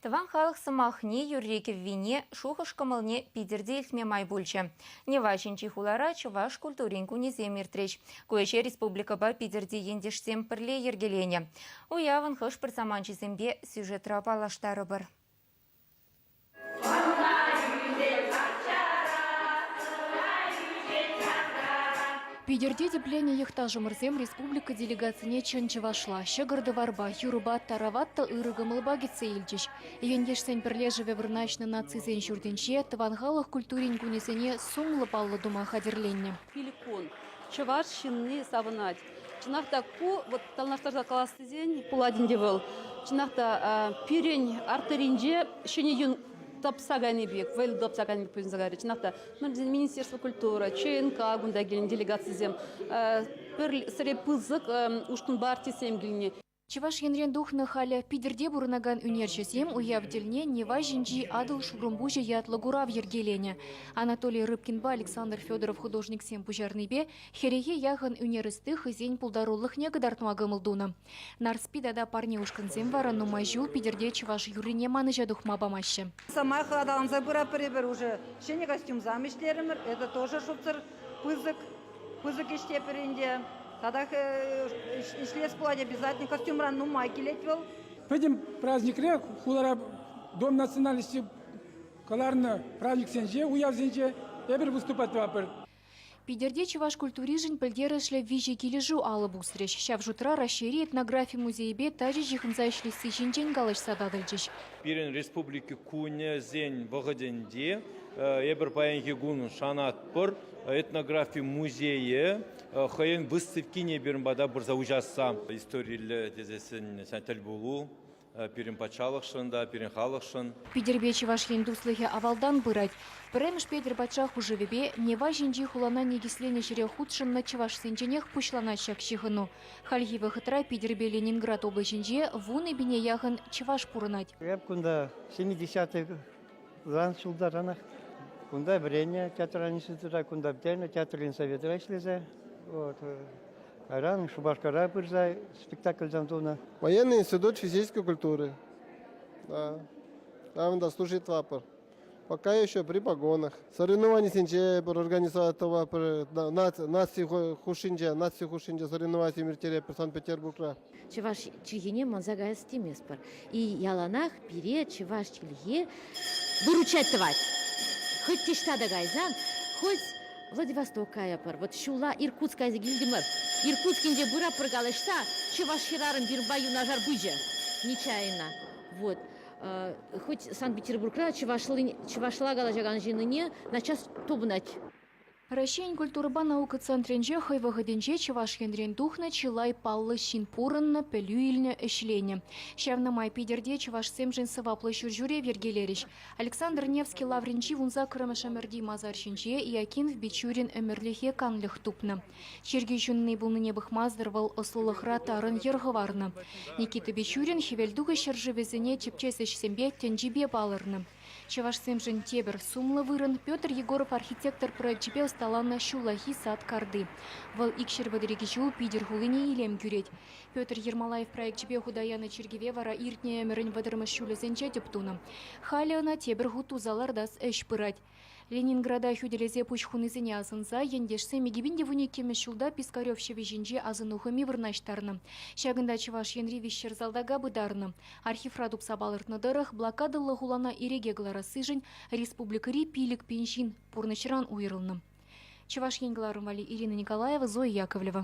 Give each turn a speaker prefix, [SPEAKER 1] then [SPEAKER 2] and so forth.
[SPEAKER 1] Тӑван халӑх сӑмахне, юрри-кӗввине, шухӑш-кӑмӑлне питӗр те илтме май пулчӗ. Нева ҫинчи хулара чӑваш культурин кунӗсем иртрӗҫ. Ку ӗҫе республикӑпа Питӗрти ентешсем пӗрле йӗркеленӗ. Уявӑн хӑш-пӗр саманчӗсемпе сюжетра паллаштарӑпӑр.
[SPEAKER 2] Питӗрти тӗпленнӗ йӑхташӑмӑрсем республика делегацине чӑн чӑвашла, ҫӑкӑр-тӑварпа, юрӑпа, тараватта ырӑ кӑмӑлпа кӗтсе илчӗҫ. Ентешсен пӗрлешӗвӗ вырнаҫнӑ нацисен ҫуртӗнче тӑван халӑх культурин кунӗсене сумлӑ паллӑ тума хатӗрленнӗ. Пилӗк кун
[SPEAKER 3] чӑваш ҫынни савӑнать. Чӑнах та ку, вот танлаштарса калас тесен, пулать ӗнтӗ вӑл. Чӑнах та пирӗн артеринче ҫӗнӗ юн тапса кайни пек, вӑйл тапса кайни пек пуҫӑнса кайрӗ. Чӑнах та, Министерство культура, ЧНК кунта килнӗ делегацисем, пӗр сӗре пысӑк ушкӑнпа артистсем килнӗ. Чӑваш Енрен
[SPEAKER 2] тухнӑ халӗ Питӗрте пурӑнакан ӳнерҫӗсем уяв тӗлне Нева ҫинчи Атӑл шурӑмпуҫӗ ятлӑ курав йӗркеленӗ. Анатолий Рыбкинпа Александр Федоров художниксем пуҫарнипе хӗрехе яхӑн ӳнер ӑсти хӑйсен пултарулӑхне кӑтартма кӑмӑл тунӑ. Нарспи тата парне ушкӑнсем вара нумай ҫул Питӗрте чӑваш юррине манӑҫа тухма памаҫҫӗ. Самаях аталанса
[SPEAKER 4] пыратпӑр эпир. Уже ҫӗнӗ костюмсам ӗҫлерӗмӗр. Это тоже шутсӑр. пысӑк, пысӑк ӗҫтепӗр ӗнтӗ. Татах ӗҫлес пулать, обязательно костюмран нумай килет вӑл. Пӗтӗм
[SPEAKER 5] праздникре хулара Дом национальности кӑларнӑ праздниксенче, уявсенче эпир выступать тӑватпӑр. Питӗрте
[SPEAKER 2] чӑваш культуришӗн пӗлтерӗшлӗ виҫӗ килӗшӳ алӑ пусрӗҫ. Ҫав шутра Раҫҫейри этнографи музейӗпе тачӑ ҫыхӑнса ӗҫлесси ҫинчен калаҫса татӑлчӗҫ. Пирӗн Республика
[SPEAKER 6] кунӗсен вӑхӑтӗнче эпир паянхи кун шанатпӑр этнографи музейӗ хӑйӗн выставкине пирӗн пата пырса уҫасса. Историллӗ тесессӗн тӗл пулу пирӗн патшалӑхшӑн та, пирӗн халӑхшӑн. Питӗрпе Чӑваш Ен
[SPEAKER 2] туслӑхӗ авалтан пырать. Пӗрремӗш Петӗр патша хушӑвӗпе Нева ҫинчи хулана никӗсленӗ ҫӗре хутшӑннӑ чӑвашсенченех пуҫланать ҫак ҫыхӑну. Хальхи вӑхӑтра Питӗрпе Ленинград облаҫӗнче вун икӗ яхӑн чӑваш пурӑнать. Эп кунта
[SPEAKER 7] ҫӗнӗ десятикран ҫултаранах кунта вӗреннӗ, театр института кунта пӗтернӗ, театрин советра ӗҫлесе. Вот. Кайран Шупашкара пырса спектакльсем тунӑ. Военный институт
[SPEAKER 8] физической культуры. Да. Там да служит Вапор. Пока еще при погонах. Соревнованисенче пӗр организатора наци хушшинче, наци хушшинче соревновани ирттеретпӗр Санкт-Петербургра. Чӑваш
[SPEAKER 9] чӗлхине манса каяс теместпӗр. И яланах пире чӑваш чӗлхи выручать тӑвать. Хоть ниҫта та кайсан, хоть Владивосток каятпӑр, вот ҫула Иркутск кайса килтӗмӗр. Иркутскинче пыра пӗр калаҫса чӑваш хӗрарӑм пирӗнпа юнашар пычӗ нечаянно. Вот. Хӑть Санкт-Петербургра чӑвашла калаҫакан ҫыннине наччас тупӑнать. Раҫҫейӗн
[SPEAKER 2] культурӑпа наука центрӗнче хӑй вӑхӑтӗнче Чӑваш Енрен тухнӑ чылай паллӑ ҫын пурӑннӑ, пӗлӳ илнӗ, ӗҫленӗ. Ҫавна май Питӗрте чӑвашсемшӗн сӑваплӑ ҫурҫӳрев йӗркелерӗҫ. Александр Невский лаврӗнчи вунсаккӑрмӗш ӗмӗрти масар ҫинче Иакинф Бичурин ӗмӗрлӗхе канлӗх тупнӑ. Чиркӳ ҫынни пулнине пӑхмасӑр вӑл ӑслӑлӑхра тарӑн йӗр хӑварнӑ. Никита Бичурин Хӗвелтухӑҫ ҫӗршывӗсене тӗпчес ӗҫсемпе тӗнчипе палӑрнӑ. Чӑвашсемшӗн тепӗр сумлӑ вырӑн Петр Егоров архитектор проекчӗпе ӑсталанӑ ҫуллахи сад карти. Вӑл икҫӗр пӗтрӗкӗ ҫул Питӗр хулине илем кӳрет. Петр Ермолаев проекчӗпе хута янӑ чиркӗве вара иртнӗ ӗмӗрӗн вӑтӑрмӗш ҫулӗсенче тӗп тунӑ. Халӗ ӑна тепӗр хут туса лартас ӗҫ пырать. Ленинграда хӳтӗлесе пуҫ хунисене асӑнса ентешсем икӗпин те вун иккӗмӗш ҫулта Пискарев ҫӑвӗ ҫинче асӑну хӑми вырнаҫтарнӑ. Ҫакӑнта Чӑваш Енри виҫҫӗр салтака пытарнӑ. Архивра тупса палӑртнӑ тӑрӑх, блокадӑллӑ хулана ирӗке кӑларассишӗн республикӑри пилӗк пин ҫын пурнӑҫран уйрӑлнӑ. Чӑваш Ен кӑларӑм валли Ирина Николаева, Зоя Яковлева.